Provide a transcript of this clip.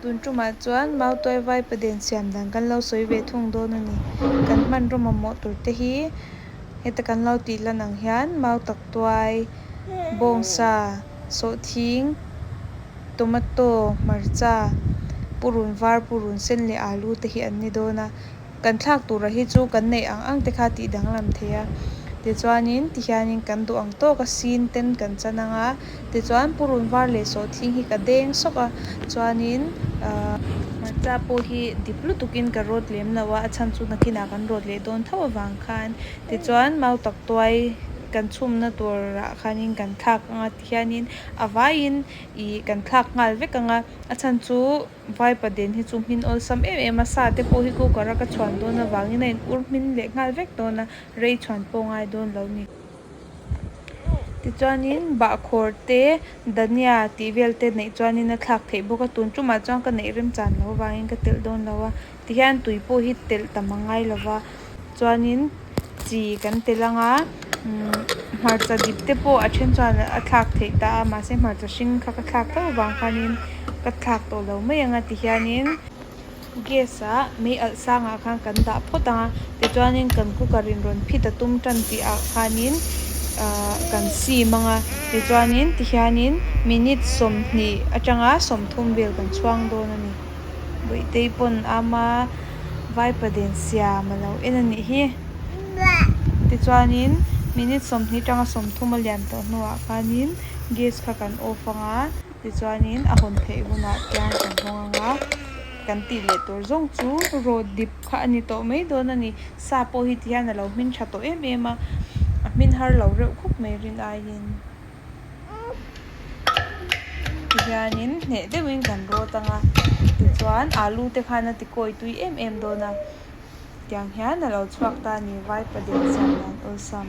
Tun ṭuma chuan mau tuai vai paden siam dan kan lo sawi ve thung dawn a ni. Kan hmanraw mamawh tur te hi heta kan lo tih hlan ang hian mau tak tuai, bawngsa, sawhthing, tomato, hmarcha, purun var, purun sen leh alu te hi an ni dawn a. kan thlak tura hi chu kan neih ang ang te kha tih danglam thei a, tichuanin tihianin kan duh ang tawk a sin ten kan chan ang a, tichuan purun var leh sawhthing hi ka deng sawk a, chuanin a. Hmarcha pawh hi dip lutukin ka rawt lem loh a, a chhan chu nakinah kan rawt leh dawn tho avang khan, tichuan mau tak tuai kan chhumna turah khanin kan thlak ang a, tihianin a vaiin ih kan thlak nghal vek ang a, a chhan chu Vaipa Den hi chu hmin awlsam em em a, sa te pawh hi cooker a ka chhuan dawn avangin a in ur hmin leh nghal vek dawn a, rei chhuan pawh ngai dawn lo ni. Tichuanin bahkhawr te dania tih vel te neih chuanin a thlak theih bawk a, tun tumah chuan ka neih remchan lo avangin ka telh dawn lo a. Tihian tui pawh hi telh tam a ngai lo va, chuanin chi kan telh ang a, umm hmarcha dip te pawh a then chuan a thlak theih ta a, mahse hmarcha hring kha ka thlak tho vang khanin ka thlak tawh lo mai ang a tihianin gas a mei alh sangah khan kan dah phawt ang a, tichuanin kan cooker in rawn phit a tum tan tih ah khanin ahh kan sim ang a, tichuanin tihianin minute sawmhnih atanga sawmthum vel kan chhuang dawn a ni. Bawihte-i pawn ama vaipa den siam a lo en a nih hi. Tichuanin minute sawmhnih tanga sawmthum a lian tawh hnuah khanin gas kha kan off ang a, tichuanin a hawn theih hunah chuan kan hawng ang a. Kan tih leh tur zawng chu raw dip kha a ni tawh mai dawn a ni. Sa pawh hi ti hian a lo hmin tha tawh em em a, a hmin har lo reuh khawp mai rin aiin. ti hianin hneh deuhin kan rawt ang a tichuan alu te khan a ti kawi tui em em dawn a tiang hian a lo chhuak ta a ni vaipa deuh sanna awlsam.